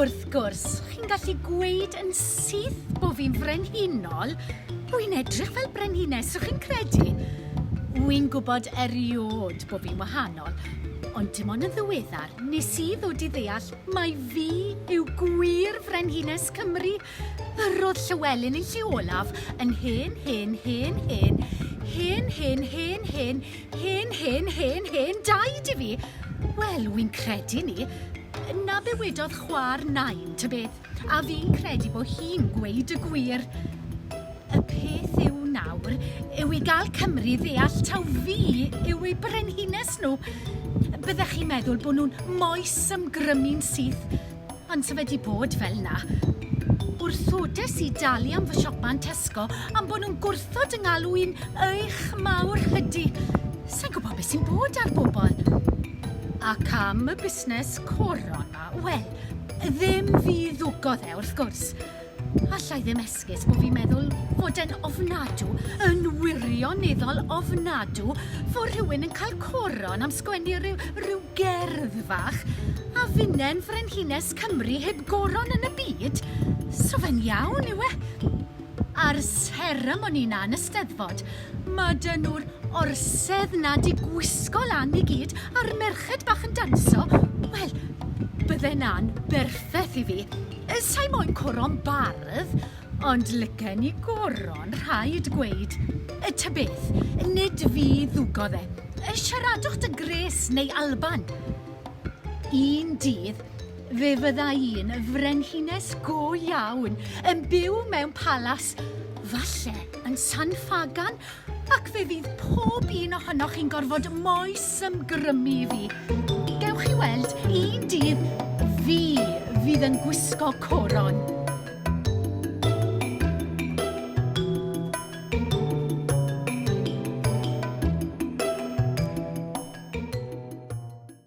Wrth gwrs, chi'n gallu gweud yn syth bo fi'n frenhinol, wi'n edrych fel brenhines, so chi'n credu? Wi'n gwybod eriod bo fi'n wahanol, ond dim ond yn ddiweddar nes i ddod i ddeall mai fi yw gwir frenhines Cymru Yr oedd Llywelyn yn lle olaf yn hen, hen, hen, hen, hen, hen, hen, hen, hen, hen, hen, hen, daid i fi! Wel, wi'n credu ni. Na be wedodd chwa'r nain, ta beth, a fi'n credu bo hi'n gweud y gwir. Y peth yw nawr yw i gael Cymru ddeall taw fi yw eu brenhines nhw. Byddech chi'n meddwl bo nhw'n moes ymgrymu'n syth. Pan sa fe 'di bod fel 'na, wrthodes i dalu am fy siopa yn Tesco am bo' nhw'n gwrthod 'y ngalw i'n eich mawr hydi. Sai'n gwbo be' sy'n bod ar bobol. Ac am y busnes coron 'ma, wel, ddim fi ddwgodd e, wrth gwrs. Alla i ddim esgus bo fi'n meddwl fod e'n ofnadw, yn wirioneddol ofnadw, fo' rhywun yn cael coron am sgwennu ryw ryw gerdd fach, a finne'n Frenhines Cymru heb goron yn y byd? So fe'n iawn yw e? A'r seremoni 'na yn y Steddfod, ma' 'dy nhw'r orsedd 'na 'di gwisgo lan i gyd, a'r merched bach yn danso, wel, bydde 'na'n berffeth i fi. Sa i moyn coron bardd, ond lygen i goron, rhaid gweud. Ta beth, nid fi ddwgodd e. Siaradwch dy Grace neu Alban. Un dydd, fe fydda i'n frenhines go iawn, yn byw mewn palas, falle yn San Ffagan, Ac fe fydd pob un ohonoch chi'n gorfod moes ymgrymu i fi. Gewch chi weld, un dydd fi fydd yn gwisgo coron.